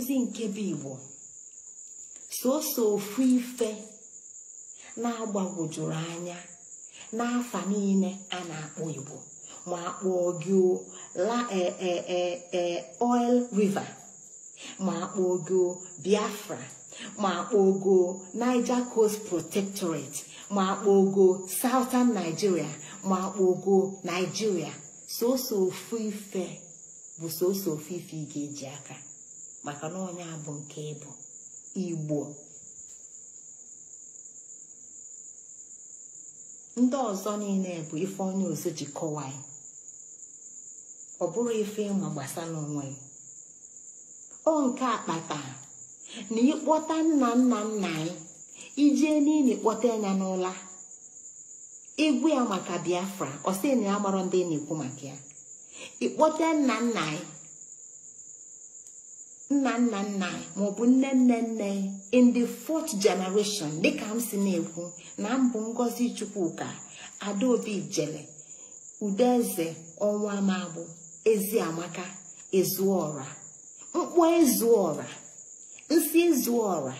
nkụzi nke bụ igbo sọsọ ofu ife na-agbagwojurọ anya n'afa niile a na-akpọ igbo ma akpọọ gị la e, e, e, oil river ma akpọọ gị biafra ma akpọọ gị niger coast protectorate ma akpọọ gị southern nigeria ma akpọọ gị nigeria sọsọ ofu ife bụ sọsọ ofu ife ị ga-eji aka maka na ọ nya bụ nke ị bụ igbo ndị ọzọ niile bụ ife onye ọzọ ji kọwaa ị ọ bụrụ ife ị ma gbasara onwe ị ọ nke a kpata na ị kpọta nna nna nna anyị ichie niile kpọta ya n'ụla ị gwa ya maka biafra ọ sị na ya amarọ ndị ị na-ekwu maka ya ị kpọte nna nna anyị nna nna nna anyị maọbụ nne nne nne in the fourth generation dịka m si na-ekwu na m bụ ngozi chukwuka adaobi ijele udeze ọnwa magbụ eziamaka ezuọra m kpọọ ezuọra m sị ezuọra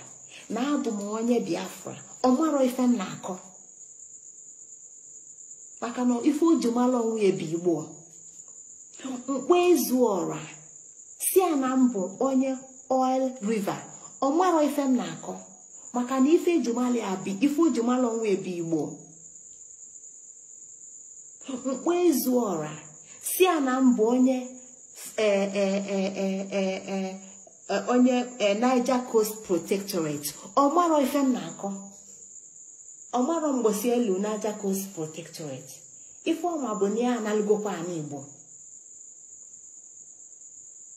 na abụ m onye biafra ọ marọ ife m na-akọ maka na ife o ji mara onwe ya bụ igbo m kpọọ ezuọra sị a na m bụ onye oil river ọ marọ ife m na-akọ maka na ife e ji malụ a bụ ife o ji malụ onwe ya bụ igbo m kpọọ ezuọra sị a na m bụ onye e, e, e, onye Niger Coast Protectorate ọ marọ ife m na-akọ ọ marọ mgbosi elu niger coast protectorate ife ọ ma bụ na ya analụgokwa anị igbo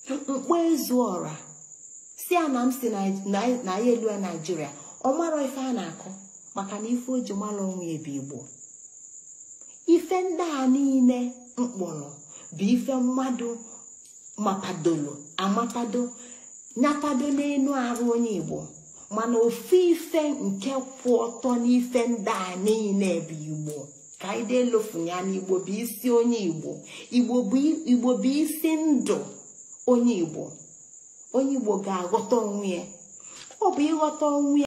m kpọọ ezuọra sị a na m si na anyị elu ya naijiria ọ marọ ife a na-akọ maka na ife o ji mara onwe ya bụ igbo ife ndị a niile m kpọrọ bụ ife mmadụ mapadolo amapado nyapado n'elu arụ onye igbo mana ofu ife nke kwụ ọtọ n'ife ndị a niile bụ igbo ka anyị delofu ya na igbo bụ isi onye igbo igbo bụ isi ndụ onye igbo onye igbo ga-aghọta onwe ya ọ bụ ịghọta onwe ya